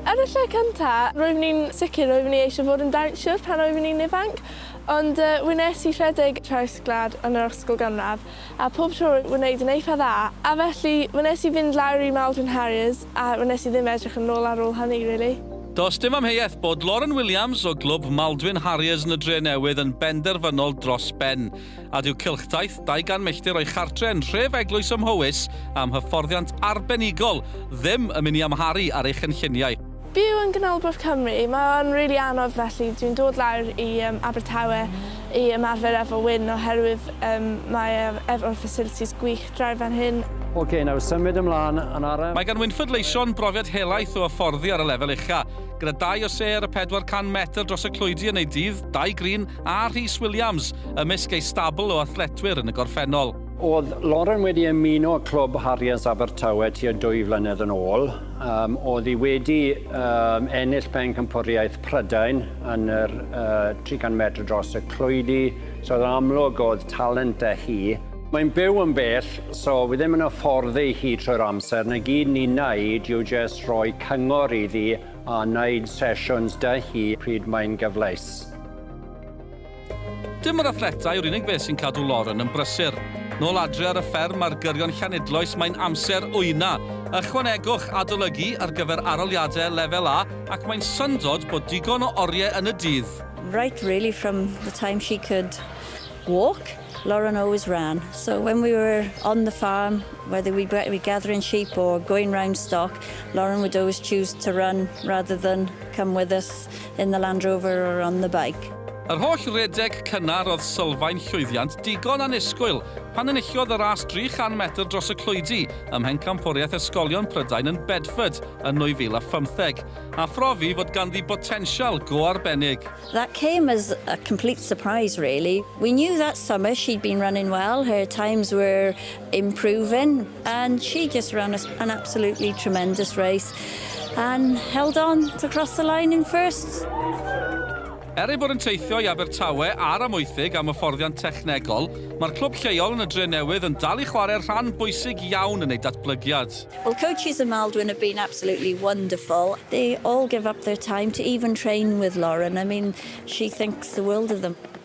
Ar y lle cyntaf, roeddwn i'n sicr roeddwn i eisiau fod yn dawnsio pan roeddwn i'n ifanc, ond wnes i rhedeg traws gwlad yn yr ysgol gynradd, a phob tro roedd wneud yn eitha dda, a felly wnes i fynd lawr i Maldron Harriers a wnes i ddim edrych yn ôl ar ôl hynny rili. Does dim amheuaeth bod Lauren Williams o glwb Maldwyn Harriers yn y Drenewydd yn benderfynol dros ben. a dyw cylchdaith 200 milltir o'i chartre yn nhref Eglwys ym Mhowys am hyfforddiant arbenigol ddim yn mynd i amharu ar ei chynlluniau. Byw yn Ganolbarth Cymru, mae o'n rili anodd felly dwi'n dod lawr i yym Abertawe i ymarfer efo Wyn oherwydd yym mae e efo'r facilities gwych draw fan hyn. Ok, nawr symud ymlân yn araf. Mae gan Wynford Leyshon brofiad helaeth o hyfforddi ar y lefel ucha', gyda dau o sêr a 400 metr dros y clwydi yn ei dydd, dau grîn a Rhys Williams ymysg ei stabl o athletwyr yn y gorffennol. Oedd Lauren wedi ymuno â clwb Harriers Abertawe tua dwy flynedd yn ôl. Um, oedd hi wedi um, ennill pencampwriaeth Prydain yn yr uh, 300 metr dros y clwydi, so oedd amlwg oedd talent da hi. Mae'n byw yn bell, so fi ddim yn affordd ei hi trwy'r amser. Na gyd ni'n naid yw jyst rhoi cyngor iddi a wneud sesiwns dy hi pryd mae'n gyfleus. Dim yr athletau yw'r unig beth sy'n cadw Lauren yn brysur. Nôl adre ar y fferm ar gyrion Llanidloes mae'n amser wyna. Ychwanegwch adolygu ar gyfer aroliadau lefel A ac mae'n syndod bod digon o oriau yn y dydd. Right really from the time she could walk, Lauren always ran. So when we were on the farm, whether we'd be gathering sheep or going round stock, Lauren would always choose to run rather than come with us. Cat in the Land Rover or on the bike. Yr holl redeg cynnar oedd sylfaen llwyddiant digon annisgwyl pan enillodd y ras 300 metr dros y clwydi ym Mhencampwriaeth Ysgolion Prydain yn Bedford yn 2015, a phrofi fod ganddi botensial go arbennig. That came as a complete surprise really. We knew that summer she'd been running well, her times were improving and she just ran an absolutely tremendous race and held on to cross the line in first. Er ei bod yn teithio i Abertawe a'r Amwythig am hyfforddiant technegol, mae'r clwb lleol yn y Dre Newydd yn dal i chwarae rhan bwysig iawn yn ei datblygiad. Well, coaches y Maldwyn have been absolutely wonderful. They all give up their time to even train with Lauren. I mean, she thinks the world of them.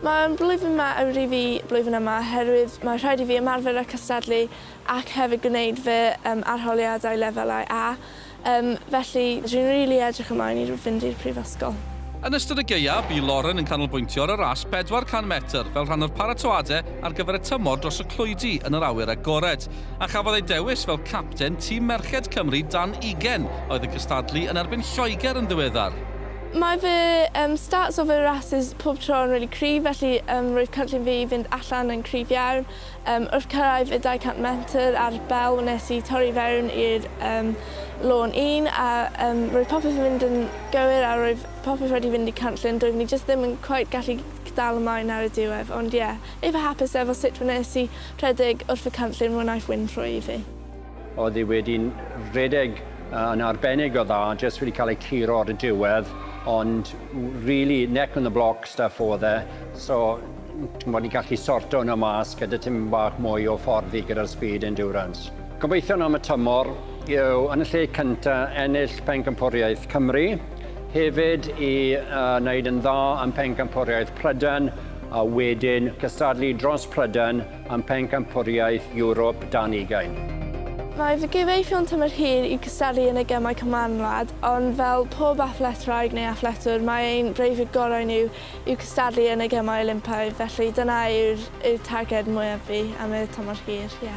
Mae'r blwyddyn yma yn rhy ddu blwyddyn yma oherwydd mae rhaid i fi ymarfer a cystadlu ac hefyd gwneud fy um, arholiadau lefelau A, um, felly dwi'n rili really edrych ymlaen i fynd i'r prifysgol. Yn ystod y gaeaf, bu Lauren yn canolbwyntio ar y ras 400 metr fel rhan o'r paratoadau ar gyfer y tymor dros y clwydi yn yr awyr agored, a chafodd ei dewis fel capten tîm merched Cymru dan ugain oedd yn cystadlu yn erbyn Lloegr yn ddiweddar. Mae fy yym stats o fy rasys pob tro yn rili cryf felly yym roedd cynllun fi i fynd allan yn cryf iawn. Yym wrth cyrraedd y 200 metr ar bell wnes i torri i fewn i'r yym lôn un a yym roedd popeth yn mynd yn gywir a roedd popeth wedi fynd i cynllun doeddwn i jyst ddim yn cweit gallu dal ymlaen ar y diwedd ond ie eitha hapus efo sut wnes i rhedeg wrth y cynllun wnaeth win rhwydd i fi. Oedd e wedi rhedeg yn arbennig o dda, jyst wedi cael ei curo ar y diwedd, ond really neck on the block stuff oedd e, so ti'n bod ni'n gallu sorto hwnna mas gyda tim bach mwy o fforddi gyda'r speed endurance. Gobeithion am y tymor yw yn y lle cynta ennill Pencampwriaeth Cymru, hefyd i uh, wneud yn dda yn Pencampwriaeth Prydain a wedyn cystadlu dros Prydain am Phencampwriaeth Ewrop dan ugain. Mae fy gyfeillion tymor hir i gystadlu yn y Gemau Cymanwlad, ond fel pob athletwraig neu athletwr, mae ein breuddwyd gorau ni yw cystadlu yn y Gemau Olympaidd, felly dyna yw'r yw'r targed mwyaf fi am y tymor hir, ie.